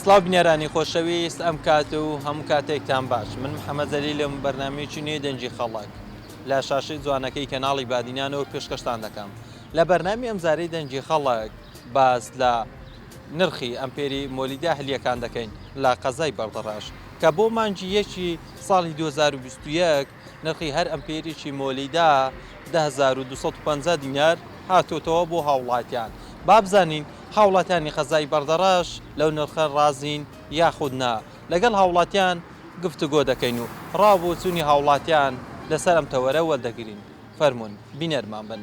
سڵاو بینەرانی خۆشەویست ئەم کات و هەموو کاتێکتان باش من محەممەد زەلیلم بەرنمەیەکی نوێی دەنگی خەڵک لە شاشەی جوانەکەی کەناڵی بادینانەوە پێشکەشتان دەکەم لە بەرنامی ئەمجارەی دەنگی خەڵک باس لە نرخی ئەمپێری مۆلیدا هەلیەکان دەکەین لە قەزای بەردەڕاش کە بۆ مانگی یەکی ساڵی 2021 نرخی هەر ئەمپێریکی مۆلیدا دە هەزار و دوو سەد و پەنجا دینار هاتۆتەوە بۆ هاوڵاتیان، با بزانین هاوڵاتیانی قەزای بەردەڕەش لەو نرخە ڕازین یاخود نا، لەگەڵ هاوڵاتیان گفتوگۆ دەکەین و ڕا و بۆچوونی هاوڵاتیان لەسەر ئەم تەوەرە وەردەگرین، فەرموون بینەرمان بن.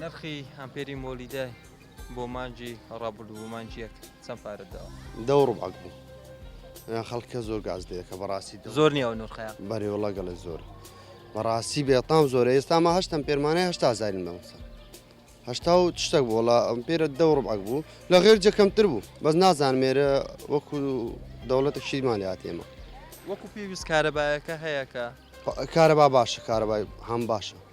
نرخی ئەمپێری مۆلیدە بۆ مانجی ڕابردوو و مانج یەک چەند پارەت داوە؟ دە و ڕوبعەک بوو. خەڵکە زۆر گاز دەیەکە بەڕاستی زۆر نیە و نرخەیە. بەرێوەڵا گەڵێ زۆر. بەڕاستی بێتام زۆرە ئێستاما هەشتم پێرمانەی هەشتا زارین بەمسەر. هەشتا و شتێک بۆ ڵا ئەم پێرە دە و ڕوبعەک بوو لە غێر جە کەمتر بوو بەس نازان مێرە وەکو دەوڵەتە شیمان لات ئێمە. وەکو پێویست کارەبایەکە هەیەکە؟ کارەبا باشە کارەبای هەم باشە.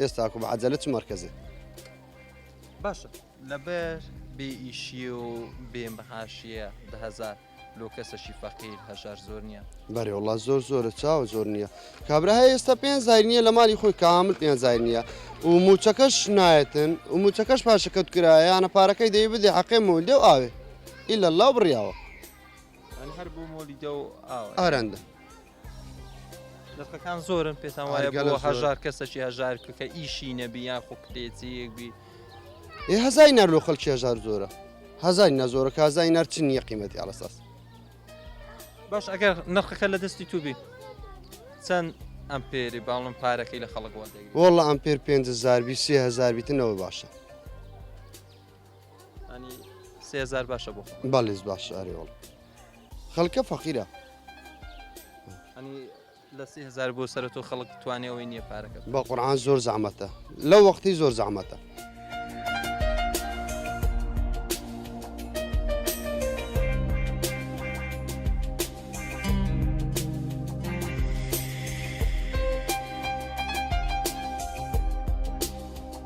ئێستاکو بە عەجەلە چ مەرکەزێ باشە لەبەر بێ ئیشی و بێ مەهاشیە دە هەزار لۆ کەسەشی فەقیر هەژار زۆر نییە بەێ وڵات زۆر زۆرە چاوە زۆر نییە کابرا هەیە ئێستا پێ زای نییە لە مالی خۆی کامل پێ زای نییە و موچەکەش نایەتن و موچەکەش پاشەکەوت کرایەیانە پارەکەی دەی بدێ حەقێ مولدێ و ئاوێ ئیلا لا بڕیاوە ئارەندە لەقەکان زۆرن پێتان وایە گەلەوە هەژار کەسەکی هەژار کە ئیشی نەبی یان خۆ کتێجیەک بی ئێ هەزای نەر لۆ خەڵکی هەژار زۆرە هەزای نەزۆرە کازای نەرچ نییە قیمەتی ئاڵساس باش ئەگەر نرخەکە لە دەستی توبی چەند ئەم پێری باڵم پارەکەی لە خەڵک وەڵە ئەم پێر پێ زاربی سێهزار بیتنەوە باشە سێزار باشە بۆ بەڵێز باش ئەرێوەڵ خەڵکە فەقیرە لە سهزار بۆ سەر تۆ خەڵک توانێەوەی نییە پارەکە بە قڕان زۆر زەحمەتە لە وەختی زۆر زەحمەتە.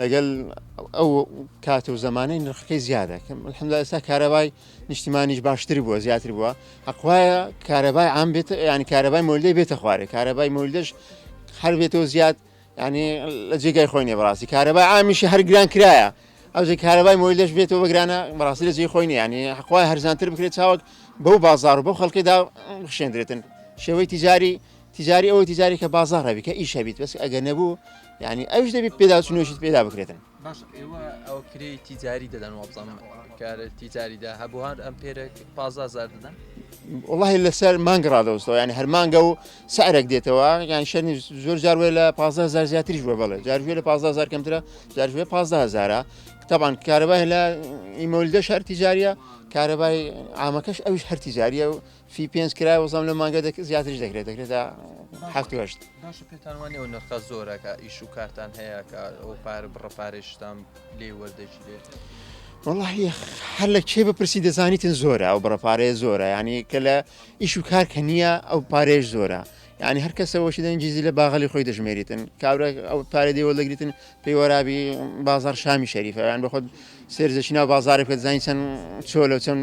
لەگەل ئەو کات و زەمانەی نرخەکەی زیادە کەم الحمدلله ئێستا کارەبای نیشتیمانیش باشتر بووە زیاتر بووە حەقوایە کارەبای عام بێت یعنی کارەبای مۆلدەی بێتە خوارێ کارەبای مۆلدەش هەر بێتەوە زیاد ینی لە جێگای خۆی نیە بەڕاستی کارەبای ئامیشی هەرگران کرایە ئەوجی کارەبای مۆی لەش بێتەوە بەگرانە بەڕاستی لە جێ خۆی نیانی حقوای هەرزانتر بکرێت چاوەک بەو بازار و بەو خەڵکیدا خشێندرێتن شێوەی تیجاری تجاری ئەوەی تجاری کە بازار هەبی کە ئیش هەبیت بەس ئەگەر نەبوو یعنی ئەوش دەبی پێداچونێشت پێدا بکرێتن باش ئێوە ئەو کرێ تیجاری دەدەن وابزان کارە تیجاریدا هەبوو هەر ئەم پێرە پازازار دەدەن والله لەسەر مانگە ڕادەوەستەوە یعنی هەرمانگە و سعرێک دێتەوە یان شەرنی زۆر جاروێ لە 15 زار زیاتریش بە بڵێ جاروێ لە 15 زار کەمترە جاروێ 15 هزارە تەبان کارەبای لە ئیمۆلدە شار تیجاریە کارەبای ئامەکەش ئەوش هەر تیجاریە و فی پێنج کرا وەزام لە مانگە زیاترش دەکرێت دەکرێت تا هەفت هەشت باشە پێتان وانە ئەو نرخە زۆرەکە ئیش و کارتان هەیە کە ئەو پارە بڕە پارێشتان لێ وەردەگیرێت وڵی هەر لە کێ بپرسی دەزانیتن زۆرە ئەو بڕە پارەیە زۆرە ینی کە لە ئیش و کار کە نییە ئەو پارێش زۆرە ینی هەر کەسەوەشی دەنجیزی لە باغلی خۆی دەژمێریتن کابرا ئەو پارە دێوە دەگریتن پێی وەرابی بازار شامی شەریفەیان بەخۆت سێرزەشینا بازارێک بەزانین چەند چۆلە چەند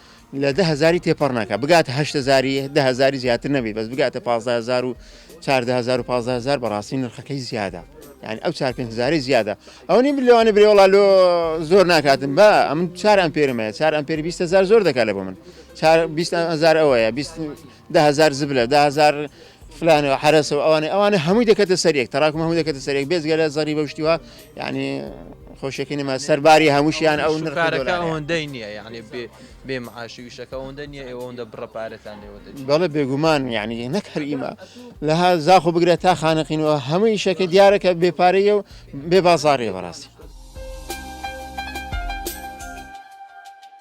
لە دە هەزاری تێپەڕ ناکات بگاتە هەشت هەزاری دە هەزاری زیاتر نەبی بەس بگاتە پازدە هەزار و چاردە هەزار و پازدە هەزار بەڕاستی نرخەکەی زیادە یعنی ئەو چار پێنج هەزاری زیادە ئەو نیم لەوانی برێوەڵا لۆ زۆر ناکاتن بە ئەمن چار ئەمپێرمەیە چار ئەمپێری بیست هەزار زۆر دەکات لە بۆ من چار بیست هەزار ئەوەیە بیست دە هەزار زبلە دە هەزار فلانەوە حرەسە و ئەوانێ ئەوانە هەمووی دەکەتە سەرێک تەراکم هەموو دەکەتە سەرێک بێزگە لە زەری بەشتیوە یعنی خۆشەکە نەما سەرباری هەمووشیان ئەو نرخارەکە ئەوەندەی نییە یعنی بێ بێ معاشی وشەکە ئەوەندە نییە ئەوەندە بڕە پارەتان لێوە بەڵە بێگومان یعنی نەک هەر ئیمە لەها زاخۆ بگرێت تا خانەقینەوە هەمووی شەکە دیارەکە بێپارەیە و بێ بازارێ بەڕاستی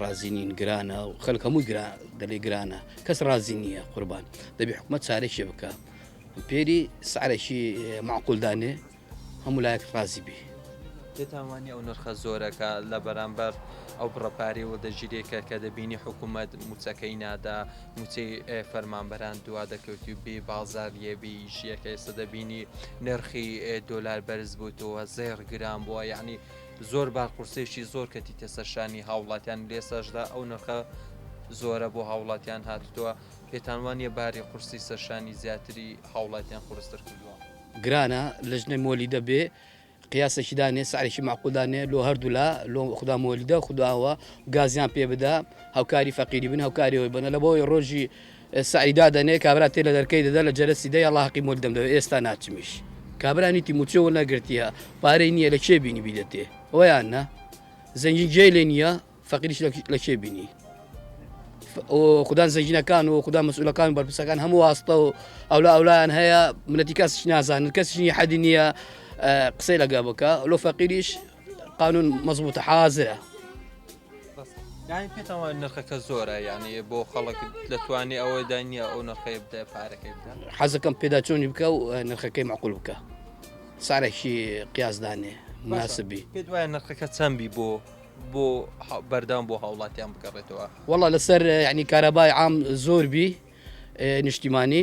ڕازی نین گرانە و خەلک هەموو دەلی گرانە کەس ڕازی نییە قوربان دەبی حکومت چارێکی بکە پێری سعرێکی معقولدانێ هەموو لایەک ڕازی بی تێتاوانی ئەو نرخە زۆرەکە لە بەرامبەر ئەو بڕەپارەی و دەژیرێکە کە دەبینی حکوومەت موچەکەی نادا موچەی فەرمانبەران دوا دەکەوتی بێ بازار لێبی ژیەکە ئێستا دەبینی نرخی دۆلار بەرز بووتەوە زێڕ گران بووە یعنی زۆر با قورسێکی زۆر کەتیتە سەر شانی هاوڵاتیان لێساشدا ئەو نرخە زۆرە بۆ هاوڵاتیان هاتووە پێتان وانە باری قورسی سەرشانی زیاتری هاوڵاتیان قورستر کردووە گرانە لەژنەی مۆلی دەبێ قیاسێکی دانێ سعرێکی معقودانێ لۆ هەردوولا لۆ خدا مۆلیدە خداوە گازیان پێ بدا هاوکاری فەقیری بن هاوکاریەوەی بنە لە بۆی ڕۆژی سەعی دادەنێ کابرا تێ لە دەرکەی دەدا لە جەرەسی دەی ئەڵا هەقی مۆل دەمدەوێ ئێستا ناچمیش کابرا نیتی موچۆ وەرنەگرتیە پارەی نییە لە کێ بینی بیدەتێ ئەویان نا زەنگین جێ لێ نییە فەقیریش لە کێ بینی خوددان زەنگینەکان و خوددا مەسئولەکان بەرپسەکان هەموو واستە و ئەولا ئەولایان هەیە منەتی کەسش نازانن کەسیی حەدی نییە قسەی لەگە بکە لۆ فەقیریش قانون مەزبووتە حازرە یانی پێتەوە نرخەکە زۆرە یانی بۆ خەڵک دەتوانێت ئەوە دانیە ئەو نرخەیە بدە پارەکەی بکە حەزەکەم پێدا چۆنی بکە و نرخەکەی مەقول بکە سارێکی قیازدانێ مناسبی پێ دوای نرخەکە چەندبی بۆ بۆ بەردان بۆ هاوڵاتیان بگەڕێتەوە وڵا لەسەر ینی کارەبای عام زۆر بی نیشتیمانی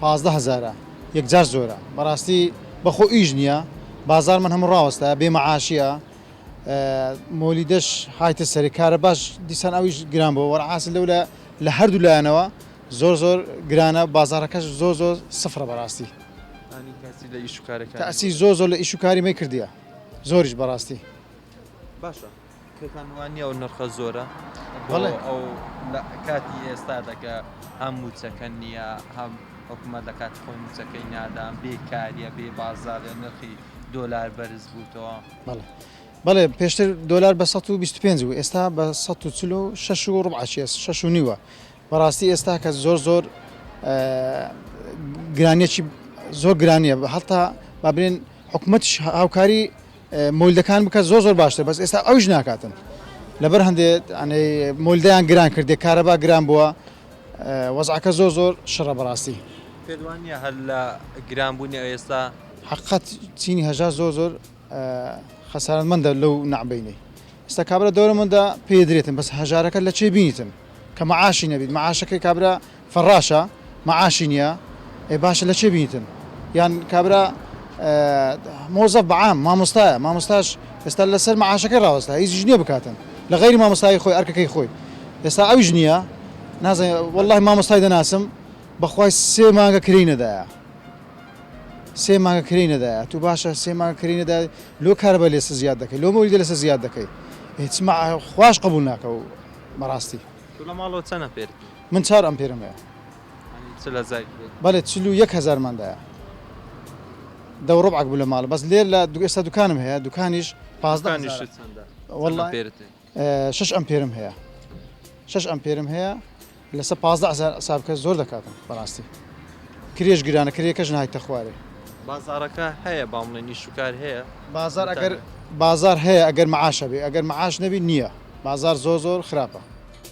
پازدە هەزارە یەکجار زۆرە بەڕاستی بەخۆ ئیش نیە بازارمان هەموو ڕاوەستایە بێ مەعاشیە مۆلیدەش هایتە سەری کارە باش دیسان ئەویش گران بۆ وەرعاسی لەو لە لە هەردوو لایەنەوە زۆر زۆر گرانە بازارەکەش زۆر زۆر سفرە بەڕاستی تاسی زۆر زۆر لە ئیش و کاری مەی کردیە زۆریش بەڕاستی باشە پێتان وانیە ئەو نرخە زۆرە بۆ ئەو لە کاتی ئێستادا کە هەم موچەکە نییە هەم حکوومەت لە کاتی خۆی موچەکەی نادان بێکاریە بێ بازارە نرخی دۆلار بەرز بووتەوە بەڵێ بەڵێ پێشتر دۆلار بە 125 و ئێستا بە 16 و ڕبعاچێ 6 و نیوە بەڕاستی ئێستا کە زۆر زۆر گرانیەکی زۆر گرانیە هەتا بابرێن حکوومەتش هاوکاری مۆلدەکان بکە زۆر زۆر باشتر بەس ئێستا ئەوش ناکاتن لەبەر هەندێ ئەنێ مۆلدەیان گران کردێ کارەبا گران بووە وەزعەکە زۆر زۆر شڕە بەڕاستی پێدوانە هەر لە گران بوونی ئەوێستا حقت چینی هەژار زۆر زۆر خەسارت مندە لەو نعبینەی ئستا کابرا دەورە مندا پێدرێتن بەس هەژارەکە لە چێ بینیتن کە مەعاشی نەبیت مەعاشەکەی کابرا فەڕاشە مەعاشی نیە ئێ باشە لە چێ بینیتن یان کابرا مۆزەف بە عام مامۆستایە مامۆستاش ئێستا لەسەر مەعاشەکەی ڕاوەستا هیچیش نیە بکاتن لە غەیری مامۆستایی خۆی ئەرکەکەی خۆی ئێستا ئەویش نیە نازانم وەڵڵاهی مامۆستای دەناسم بەخوای سێ مانگە کرێی نەدایە سێ مانگە کرێی نەدایە تو باشە سێ مانگە کرێی نەدایە لۆ کارەبای لێسە زیاد دەکەی لۆ مۆلیدە لەسە زیاد دەکەی هیچ مع خواش قبول ناکە و بەڕاستی تو لە ماڵەوە چەنە پێرتی؟ من چار ئەمپێرم هەیە. یانی چل هەزار کیلۆ. بەلێ چل و یەک هەزارمان دایە. دە و ربعەک بوو لە ماڵ بەس لێ لە ئێستا دوکانم هەیە دوکانیش پازدە هەزارە. دوکانیشت چەندە؟ وەڵا چەند ئەمپێرت هەیە؟ شەش ئەمپێرم هەیە. شەش ئەمپێرم هەیە لەسەر پازدە هەزار حساب بکە زۆر دەکاتم بەڕاستی. کرێش گرانە کرێکەش نایتە خوارێ. بازاڕەکە هەیە با بڵێین ئیش و کار هەیە؟ بازاڕ بۆ ئەگەر تانە. بازاڕ هەیە ئەگەر مەعاش هەبێ ئەگەر مەعاش نەبی نییە. بازاڕ زۆر زۆر خراپە.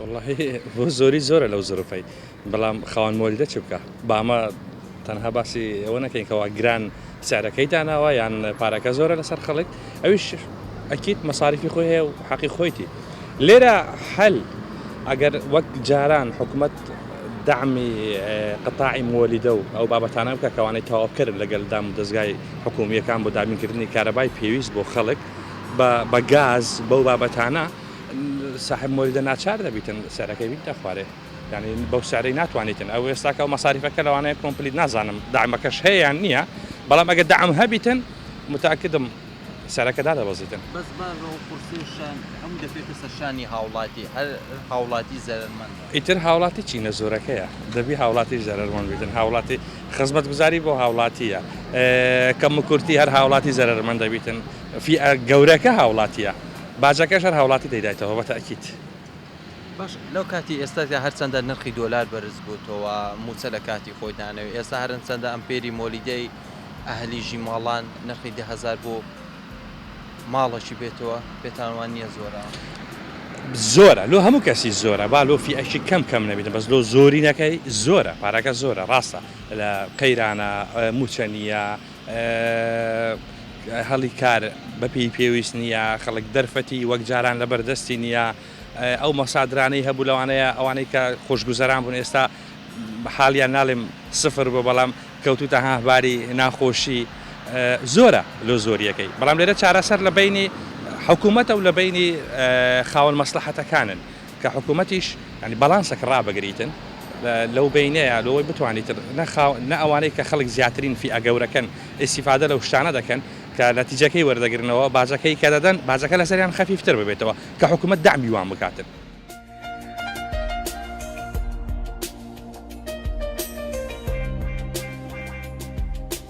وەڵاهی بۆ زۆری زۆرە لەو زروفەی بەڵام خاوەن مۆلیدە چ بکە بامە تەنها باسی ئەوە نەکەین کەوا گران سعرەکەی داناوە یان پارەکە زۆرە لەسەر خەڵک ئەویش ئەکیت مەساریفی خۆی هەیە و حەقی خۆیتی لێرە حل ئەگەر وەک جاران حکومت دامی قتاعی مۆلیدە و ئەو بابەتانە بکە کەوانەی تەواوکرد لەگەل دام و دەستگای حکومیەکان بۆ دابینکردنی کارەبای پێویست بۆ خەڵک بە بە گاز بەو بابەتانە ساحێب مۆلیدە ناچار دەبیتن سعرەکەی بیت دەخوارێ یعنی بەو سعرەی ناتوانیتن ئەو ئێستاکە و مەساریفەکە لەوانەیە کۆمپلیت نازانم دامەکەش هەیە نییە بەڵام ئەگە دام هەبیتن متاکدم سەرەکە دا دەبەزیتن بەس بە قورسێشان هەموو دەفێتە سەرشانی هاوڵاتی هەر هاوڵاتی زەرمەند ئیتر هاوڵاتی چی نەزۆرەکەیە دەبی هاوڵاتی زەرمەند بیتن هاوڵاتی خزمەت گوزاری بۆ هاوڵاتیە کەم کورتی هەر هاوڵاتی زەرمەند دەبیتن فی گەورەکە هاوڵاتیە باجەکەش هەر هاوڵاتی دەیدایتەوە بە تەئکید. باش لەو کاتی ئێستادا هەرچەندە نرخی دۆلار بەرز بووتەوە مووچە لە کاتی خۆی دانەوێ ئێستا هەرنچەندە ئەمپێری مۆلیدەی ئەهلی ژیماڵان نرخی دە هەزار بۆ ماڵەکی بێتەوە پێتان وان نییە زۆرە؟ زۆرە لۆ هەموو کەسی زۆرە با لۆ فیئەکی کەم کەم نەبیتن بەس لۆ زۆرینەکەی زۆرە پارەکە زۆرە ڕاستە لە قەیرانە مووچە نییە هەلی کار بە پێی پێویست نییە، خەڵک دەرفەتی وەک جاران لەبەر دەستی نییە، ئەو مەسادرانەی هەبوو لەوانەیە ئەوانەی کە خۆشگوزەران بوون ئێستا حالیان ناڵێم سفر بووە بەڵام کەوتووتە هاه باری ناخۆشی زۆرە لۆ زۆریەکەی بەڵام لێرە چارەسەر لە بەینی حکوومەتە و لە بەینی خاوەن مەسلەحەتەکانن کە حکومەتیش یانی باڵانسەکە ڕابگریتن لەو بەینەیا لەوەی بتوانیتن نە خاو نە ئەوانەی کە خەڵک زیاترین فیئە گەورەکەن ئیستیفادە لەو شتانە دەکەن کە نەتیجەکەی وەردەگرنەوە باجەکەی کە دەدەن باجەکە لەسەریان خەفیفتر ببێتەوە کە حکومەت دەعمی وان بکاتن.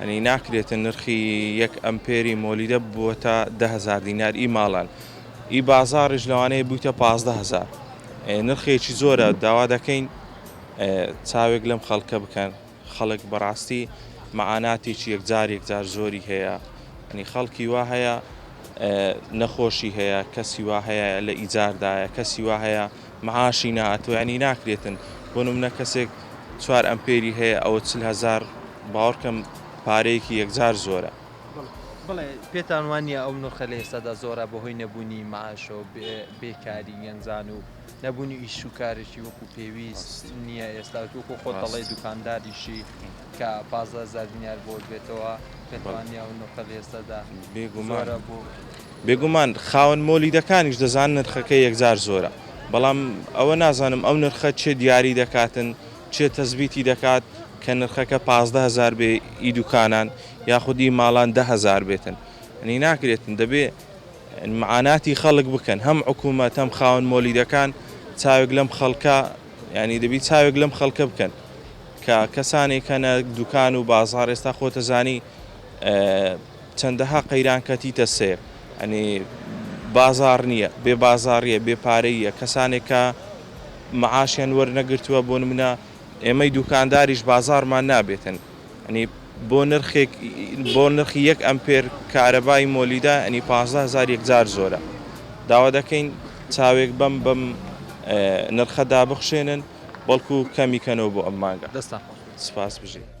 یانی ناکرێت نرخی یەک ئەمپێری مۆلیدە ببووەتە دە هەزار دینار ی ماڵان ی بازاڕیش لەوانەیە بوویتە پازدە هەزار نرخێکی زۆرە داوا دەکەین چاوێک لەم خەڵکە بکەن خەڵک بەڕاستی مەعاناتێکی یەکجار یەکجار زۆری هەیە ینی خەڵکی وا هەیە نەخۆشی هەیە کەسی وا هەیە لە ئیجاردایە کەسی وا هەیە معاشی نائەتوە یانی ناکرێتن بۆ نمونە کەسێک چوار ئەمپێری هەیە ئەوە چل هەزار باوەڕکەم پارەیەکی یەکجار زۆرە. بەڵێ پێتان وانیە ئەو نرخە لە ئێستادا زۆرە بەهۆی نەبوونی معاشەوە بێ کاری گەنجان و نەبوونی ئیش و کارێکی وەکو پێویست نیە ئێستا وەکو خۆت دەڵێی دوکانداریشی کە پازدە هەزار دینار بۆت بێتەوە پێتوانیە ئەو نرخە لە ئێستادا بێگومانە بۆ بێگومان خاوەن مۆلیدەکانیش دەزانن نرخەکەی یەکجار زۆرە، بەڵام ئەوە نازانم ئەو نرخە چێ دیاری دەکاتن، چێ تەسبیتی دەکات کە نرخەکە پازدە هەزار بێ ئی دوکانان یاخود ئی ماڵان دە هەزار بێتن، یەنی ناکرێتن دەبێ معاناتی خەڵک بکەن، هەم حکومەت هەم خاوەن مۆلیدەکان چاوێک لەم خەڵکە یانی دەبی چاوێک لەم خەڵکە بکەن کە کەسانێک هەنە دوکان و بازاڕ ئێستا خۆتەزانی چەندەها قەیران کەتیتە سەیر یانی بازاڕ نیە بێ بازاڕیە بێ پارەییە کەسانێک کە معاشیان وەرنەگرتوە بۆ نمونە ئێمەی دوکانداریش بازاڕمان نابێتن یانی بۆ نرخێک بۆ نرخی یەک ئەمپێر کارەبای مۆلیدا یانی پازدە هەزار یەکجار زۆرە داوا دەکەین چاوێک بەم بەم نرخە دابخشێنن بەڵکو کەمی کەنەوە بۆ ئەم مانگە. دەستتان خۆش بێت. سپاس بژیت.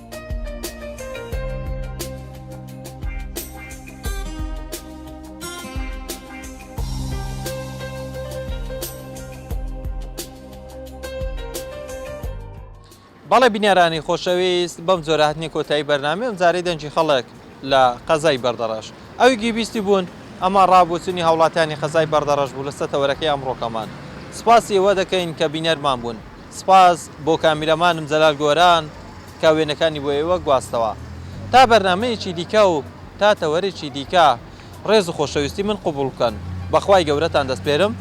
بەڵێ بینەرانی خۆشەویست بەم جۆرە هاتنی کۆتایی بەرنامی ئەم جارەی دەنجی خەڵک لە قەزای بەردەڕەش ئەوی گیبیستی بوون ئەمە ڕابوچنی هاوڵاتیانی قەزای بەردەڕەش بوو لە سەتەوەرەکەی ئەمڕۆکەمان سپاسی ئەوە دەکەین کە بینەرمان بوون سپاس بۆ کامیرامانم جەلال گۆران کە وێنەکانی بۆ ئێوە گواستەوە. تا بەرنامەیەکی دیکە و تا تەوەرێکی دیکە ڕێز و خۆشەویستی من قبوڵ بکەن. بە خوای گەورەتان دەسپێرم.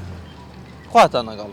خواتان لەگەڵ.